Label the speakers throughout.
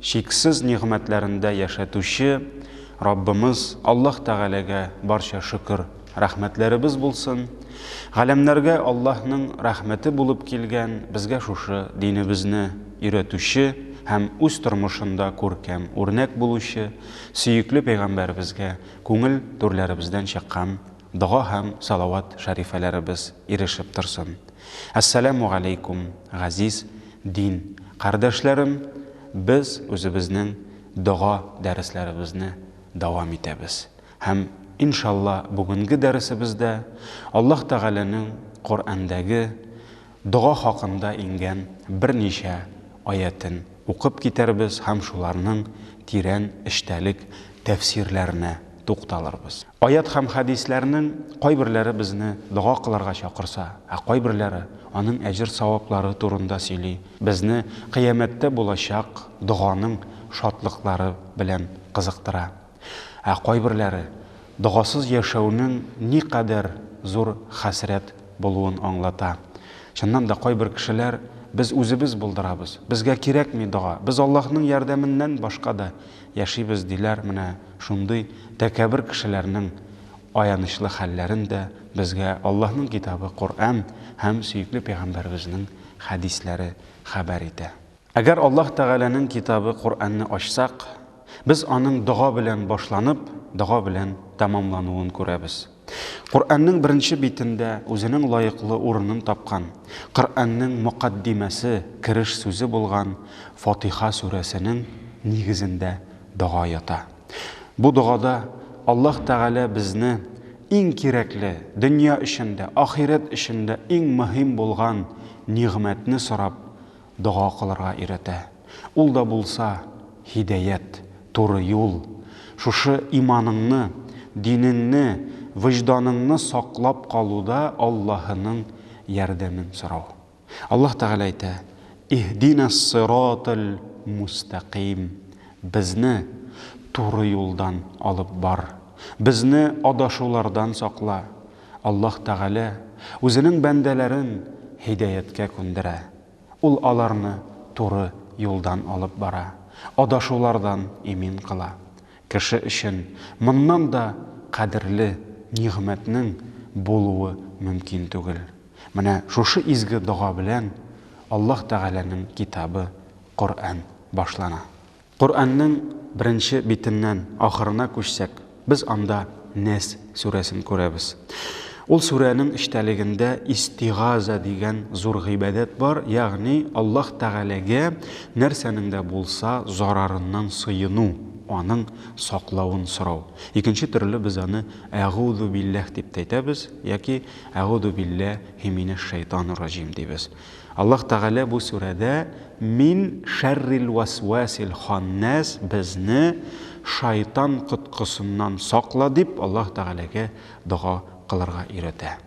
Speaker 1: Чиксез нигъмәтләрендә яшәтүче Раббымыз Аллаһ Тәгаләгә барча шөкер, рәхмәтләребез булсын! Галәмнәргә Аллаһның рәхмәте булып килгән безгә шушы динебезне өйрәтүче һәм үз тормышында күркәм үрнәк булучы сөекле пәйгамбәребезгә күңел түрләребездән чыккан дога һәм салават шәрифәләребез ирешеп торсын! Әссәләмү галәйкүм, газиз Дин кардәшләрем, без үзебезнең дога дәресләребезне дәвам итәбез. Һәм, иншалла, бүгенге дәресебездә Аллаһ Тәгаләнең Коръәндәге дога хакында иңгән берничә аятен укып китәрбез һәм шуларның тирән эчтәлек тәфсирләренә тукталырбыз. Аять һәм хәдисләрнең кайберләре безне дога кылырга чакырса, ә кайберләре аның әҗер-саваплары турында сөйли, безне Кыямәттә булачак доганың шатлыклары белән кызыктыра. Ә кайберләре догасыз яшәүнең никадәр зур хәсрәт булуын аңлата. Чыннан да, кайбер кешеләр, Без үзебез булдырабыз. Безгә кирәкми дога. Без Аллаһның ярдәменнән башка да Яшибез, диләр, менә шундый тәкәбер кешеләрнең аянычлы хәлләрен дә безгә Аллаһның китабы Коръән һәм сөекле пәйгамбәребезнең хәдисләре хәбәр итә. Әгәр Аллаһ Тәгаләнең китабы Коръәнне ачсак, без аның дога белән башланып, дога белән тәмамлануын күрәбез. Коръәннең беренче битендә үзенең лаеклы урынын тапкан, Коръәннең мөкаддимәсе, кереш сүзе булган Фатиха сүрәсенең нигезендә дога ята. Бу догада Аллаһ Тәгалә безне иң кирәкле, дөнья өчен дә, ахирәт өчен дә иң мөһим булган нигъмәтне сорап, Дога кылырга өйрәтә. Ул да булса, һидәят, туры юл. Шушы иманыңны, динеңне, вөҗданыңны саклап калуда Аллаһының ярдәмен сорау. Аллаһ Тәгалә әйтә, Иһдинәс-сыратал мустәкыйм, Безне туры юлдан алып бар, безне адашулардан сакла. Аллаһ Тәгалә Үзенең бәндәләрен һидәяткә күндерә. Ул аларны туры юлдан алып бара, адашулардан имин кыла. Кеше өчен моннан да кадерле нигъмәтнең булуы мөмкин түгел. Менә шушы изге дога белән Аллаһ Тәгаләнең китабы Коръән башлана. Коръәннең беренче битеннән ахырына күчсәк, без анда Нәс сүрәсен күрәбез. Ул сүрәнең эчтәлегендә истигаза дигән зур гыйбадәт бар, ягъни Аллаһ Тәгаләгә нәрсәнең дә булса зарарыннан сыену, аның саклавын сорау. Икенче төрле без аны Әгузубилләһ дип тә әйтәбез яки Әгузубилләһи минәшшәйтанурраҗим дибез. Аллаһ Тәгалә бу сүрәдә мин шәррил вәсвәсил ханнәс безне шайтан коткысыннан сакла дип Аллаһ Тәгаләгә дога кылырга өйрәтә.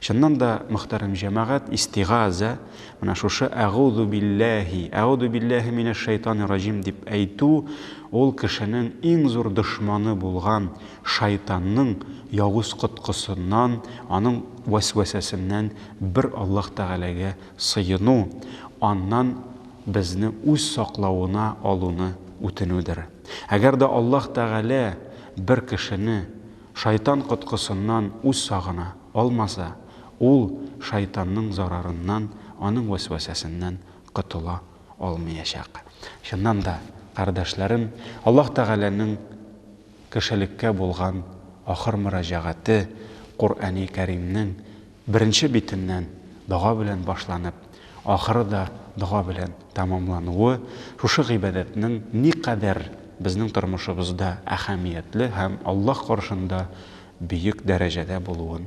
Speaker 1: Чыннан да, мөхтәрәм җәмәгать, истигазә, менә шушы әгузу билләһи, әгузу билләһи минәш шәйтани раҗим дип әйтү, ул кешенең иң зур дошманы булган шайтанның явыз коткысыннан, аның вәсвәсәсеннән Бер Аллаһ Тәгаләгә сыену, аннан безне үз саклавына алуны үтенүдер. Әгәр дә Аллаһ Тәгалә бер кешене шайтан коткысыннан үз сагына алмаса, ул шайтанның зарарыннан, аның вәсвәсәсеннән котыла алмыячак. Чыннан да, кардәшләрем, Аллаһ Тәгаләнең кешелеккә булган ахыр мөрәҗәгате Коръәни Кәримнең беренче битеннән дога белән башланып, ахыры да дога белән тәмамлануы шушы гыйбадәтнең никадәр безнең тормышыбызда әһәмиятле һәм Аллаһ каршында бөек дәрәҗәдә булуын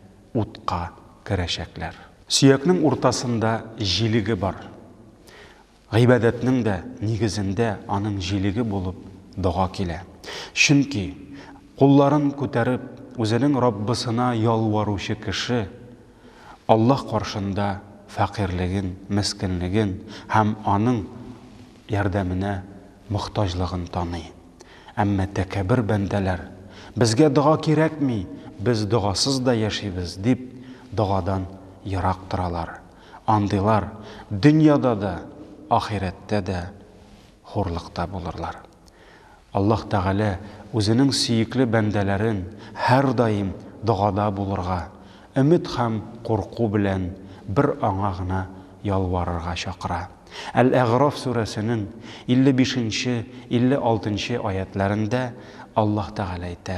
Speaker 1: утка керәчәкләр. Сөякнең уртасында җилеге бар. Гыйбадәтнең дә нигезендә аның җилеге булып дога килә. Чөнки, кулларын күтәреп, үзенең Раббысына ялваручы кеше Аллаһ каршында фәкыйрьлеген, мескенлеген һәм аның, ярдәменә мохтаҗлыгын таный. Әмма тәкәбер бәндәләр, Безгә дога кирәкми, без догасыз да яшибез, дип, догадан ерак торалар. Андыйлар дөньяда да, ахирәттә дә хурлыкта булырлар. Аллаһ Тәгалә Үзенең сөекле бәндәләрен һәрдаим догада булырга, өмет һәм курку белән бер Аңа гына ялварырга чакыра. Әл-Әгъраф сүрәсенең 55 нче, 56 нчы аятьләрендә Аллаһ Тәгалә әйтә,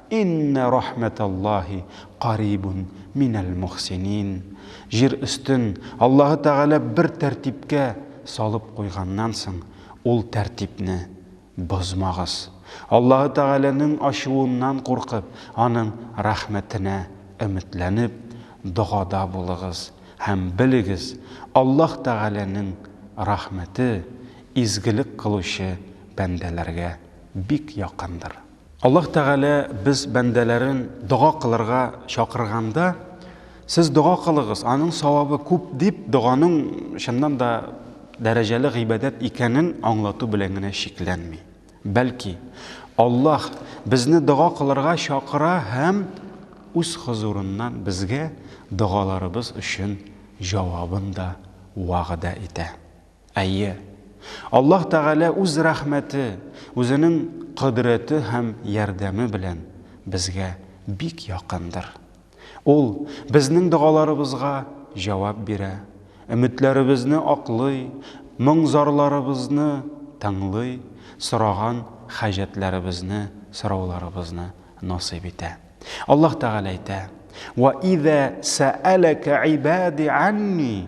Speaker 1: Иннә рахмәтәллаһи карибун минәл мохсинин Җир өстен Аллаһы Тәгалә бер тәртипкә салып куйганнан соң, ул тәртипне бозмагыз. Аллаһы Тәгаләнең ачуыннан куркып, Аның рәхмәтенә өметләнеп, догада булыгыз. Һәм белегез, Аллаһ Тәгаләнең рәхмәте изгелек кылучы бәндәләргә бик якындыр. Аллаһ Тәгалә без бәндәләрен дога кылырга чакырганда, сез дога кылыгыз, аның савабы күп дип, доганың чыннан да дәрәҗәле гыйбадәт икәнен аңлату белән генә чикләнми. Бәлки, Аллаһ безне дога кылырга чакыра һәм үз хозурыннан безгә догаларыбыз өчен җавабын да вәгъдә итә. Әйе, Аллаһ Тәгалә Үз рәхмәте, Үзенең кодрәте һәм ярдәме белән безгә бик якындыр. Ул безнең догаларыбызга җавап бирә, өметләребезне аклый, моң-зарларыбызны тыңлый, сораган хаҗәтләребезне, сорауларыбызны насыйп итә. Аллаһ Тәгалә әйтә, Вә иза сәәләкә ибади анни,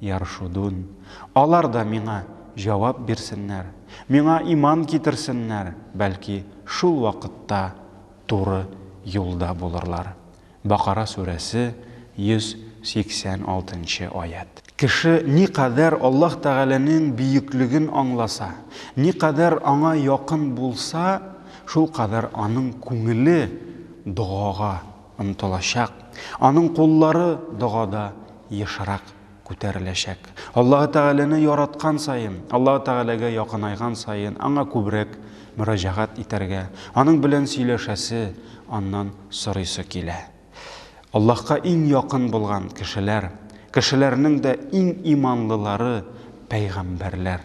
Speaker 1: Яршудун, Алар да миңа җавап бирсеннәр, миңа иман китерсеннәр, бәлки, шул вакытта туры юлда булырлар. Бакара сүрәсе, 186 нчы аять. Кеше никадәр Аллаһ Тәгаләнең бөеклеген аңласа, никадәр Аңа якын булса, шулкадәр аның күңеле догага омтылачак, аның куллары догада ешрак күтәреләчәк. Аллаһы Тәгаләне яраткан саен, Аллаһы Тәгаләгә якынайган саен Аңа күбрәк мөрәҗәгать итәргә, Аның белән сөйләшәсе, Аннан сорыйсы килә. Аллаһка иң якын булган кешеләр, кешеләрнең дә иң иманлылары, пәйгамбәрләр.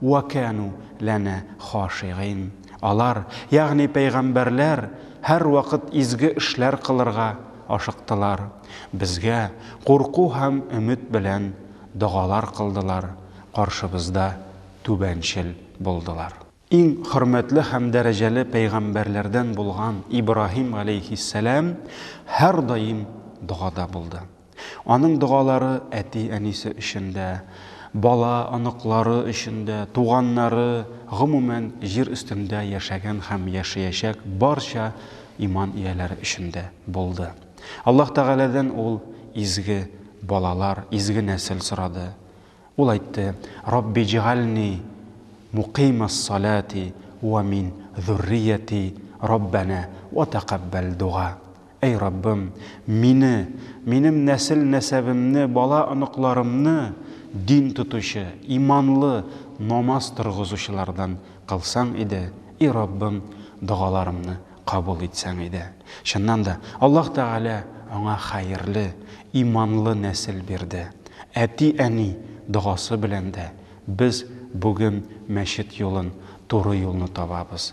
Speaker 1: Уә кәәну ләнә хашигыйн. Алар, ягъни пәйгамбәрләр, һәрвакыт изге эшләр кылырга ашыктылар, безгә курку һәм өмет белән догалар кылдылар, каршыбызда түбәнчел булдылар. Иң хөрмәтле һәм дәрәҗәле пәйгамбәрләрдән булган Ибраһим галәйһиссәлам һәрдаим догада булды. Аның догалары әти-әнисе өчен дә, бала, оныклары өчен дә, туганнары, гомумән, җир өстендә яшәгән һәм яшәячәк барча иман ияләре өчен дә булды. Аллаһ Тәгаләдән ул изге балалар, изге нәсел сорады. Ул әйтте, Раббиҗгальни мукыймас-салати уә мин зуррияти, Раббәнә уә тәкаббәл дуга. Әй Раббым, мине, минем нәсел-нәсәбемне, бала-оныкларымны дин тотучы, иманлы, намаз торгызучылардан кылсаң иде, и Раббым, догаларымны кабул итсәң иде. Чыннан да, Аллаһ Тәгалә аңа хәерле, иманлы нәсел бирде. Әти-әни догасы белән дә без бүген мәчет юлын, туры юлны табабыз.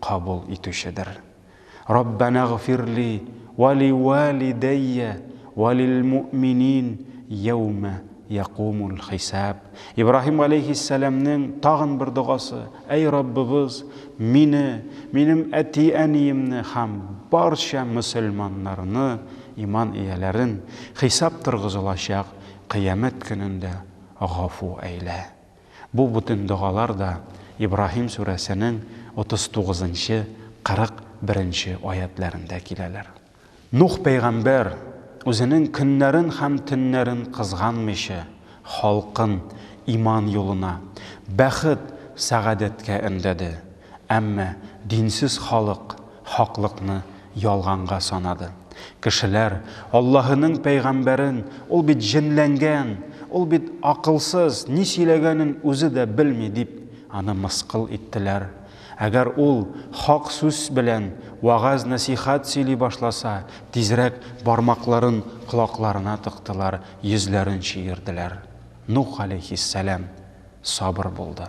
Speaker 1: Кабул итүчедер. Раббанагъфирли вә ли вәлидәйя вә лил муъминин йәүмә якумул хисаб. Ибраһим галәйһиссәламнең тагын бер догасы, Әй Раббыбыз, мине, минем әти-әниемне һәм барча мөселманнарны, иман ияләрен, хисап торгызылачак Кыямәт көнендә гафу әйлә. Бу бүтән догалар да Ибраһим сүрәсенең 39 нчы, 41 нче аятьләрендә киләләр. Нух пәйгамбәр, үзенең көннәрен һәм төннәрен кызганмыйча, халкын иман юлына, бәхет, сәгадәткә өндәде. Әмма динсез халык хаклыкны ялганга санады. Кешеләр Аллаһының пәйгамбәрен, Ул бит җенләнгән, ул бит акылсыз, ни сөйләгәнен үзе дә белми, дип, аны мыскыл иттеләр. Әгәр ул хак сүз белән вәгазь-нәсыйхәт сөйли башласа, тизрәк бармакларын колакларына тыктылар, йөзләрен чөерделәр. Нух галәйһиссәлам сабыр булды.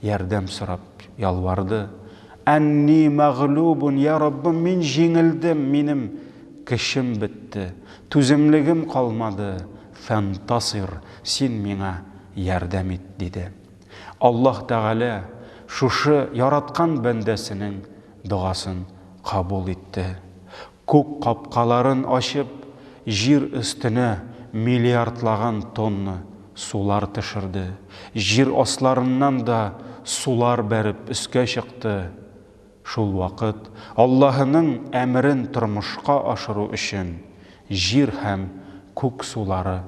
Speaker 1: Ярдәм сорап ялварды. Әнни мәгълүбун, йа Раббым, мин җиңелдем, минем көчем бетте, түземлегем калмады, фәнтасир, син миңа ярдәм ит, диде. Аллаһ Тәгалә шушы яраткан бәндәсенең догасын кабул итте. Күк капкаларын ачып, җир өстенә миллиардлаган тонна сулар төшерде. Җир асларыннан да сулар бәреп өскә чыкты. Шул вакыт Аллаһының әмерен тормышка ашыру өчен җир һәм күк сулары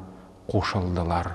Speaker 1: кушылдылар.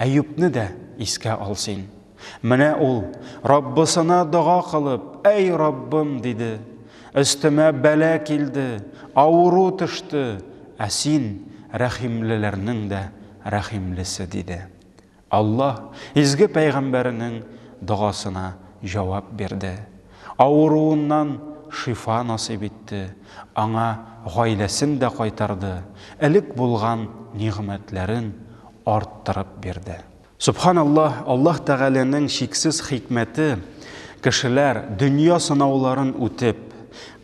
Speaker 1: Әюпне дә искә ал син. Менә ул, Раббысына дога кылып, Әй, Раббым, диде, өстемә бәла килде, авыру төште, ә Син, рәхимлеләрнең дә рәхимлесе, диде. Аллаһ изге пәйгамбәренең догасына җавап бирде. Авыруыннан шифа насыйп итте, аңа гаиләсен дә кайтарды, элек булган нигъмәтләрен арттырып бирде. Сөбханаллаһ, Аллаһ Тәгаләнең чиксез хикмәте, кешеләр, дөнья сынауларын үтеп,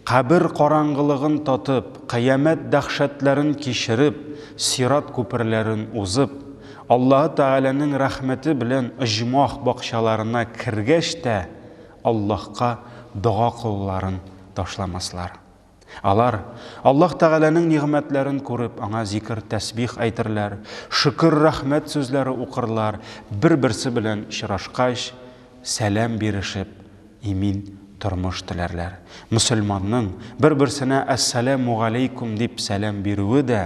Speaker 1: кабер караңгылыгын татып, кыямәт дәһшәтләрен кичереп, сират күперләрен узып, Аллаһы Тәгаләнең рәхмәте белән оҗмах бакчаларына кергәч тә, Аллаһка дога кылуларын ташламаслар. Алар, Аллаһ Тәгаләнең нигъмәтләрен күреп, Аңа зикер-тәсбих әйтерләр, шөкер-рәхмәт сүзләре укырлар, бер-берсе белән очрашкач, сәлам бирешеп, имин тормыш теләрләр. Мөселманның бер-берсенә Әссәламү галәйкүм дип сәлам бирүе дә,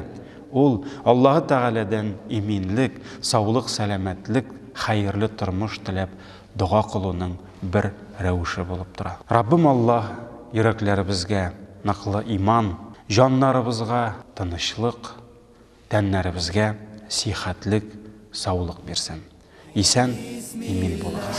Speaker 1: ул, Аллаһы Тәгаләдән иминлек, саулык-сәламәтлек, хәерле тормыш теләп дога кылуның бер рәвеше булып тора. Раббым Аллаһ йөрәкләребезгә ныклы иман, җаннарыбызга тынычлык, тәннәребезгә сихәтлек, саулык бирсен. Исән, имин булыгыз.